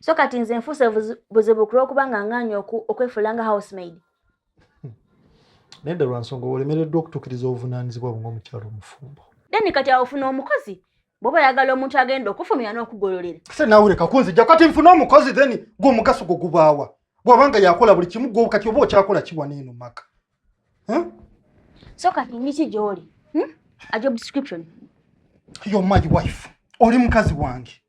so kati nze nfuuse buzibu kulwokuba nga ngaanyi okwefuula nga housemaid hmm. naye dda lwa nsonga olemereddwa okutuukiriza obuvunaanyizibwa bwe ngaomukyalo omufumbo then kati awofuna omukozi bwoba oyagala omuntu agenda okufumira n'okugololera se nawe leka kunzija kati nfuna omukozi then gwe omugaso gwo gubaawa bwabanga yakola buli kimu gwe kati oba okyakola kiwa neeno maka so kati ngiki gyoli hmm? a job description your my wife oli mukazi wange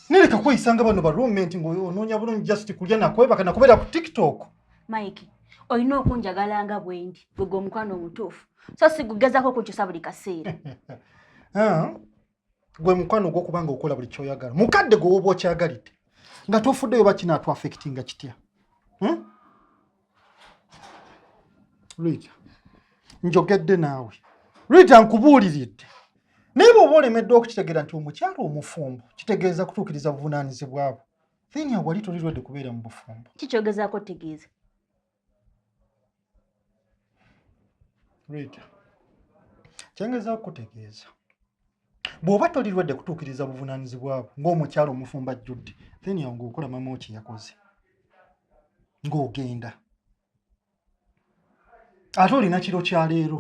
Nereka kweyisanga bano ba roommate ng'onoonya bulungi just kulya nakwebaka nakubeera ku tiktok. Mike, olina okunjagala nga bwendi gwe gwe omukwano omutuufu so sigugezako okunkyusa buli kaseera. Ah, gwe mukwano ogw'okuba nga okola buli kyoyagala mukadde gwe woba okyagalidde nga tofuddeyo bakinaatu affectinga kitya? Hmm? Rita, njogedde naawe. Rita, nkubuuliridde. Naye bw'oba olemeddwa okukitegeera nti omukyala omufumbo kitegeeza kutuukiriza buvunaanyizibwa bwo. Then awali toli lwedde kubeera mu bufumbo. Ki kyogezaako otegeeza? Rita, kyengezaako kutegeeza. bw'oba tolirwadde kutuukiriza buvunaanyizibwa bwo ng'omukyalo omufumba ajjudde then awo ng'okola mama wo kye yakoze ng'ogenda ate olina kiro kya leero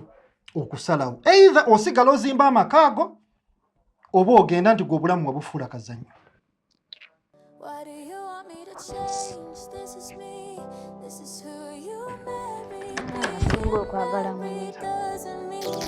okusalawo eitha osigala ozimba amaka ago oba ogenda nti gwe obulamu wabufuula kazanyo okwagala mwenza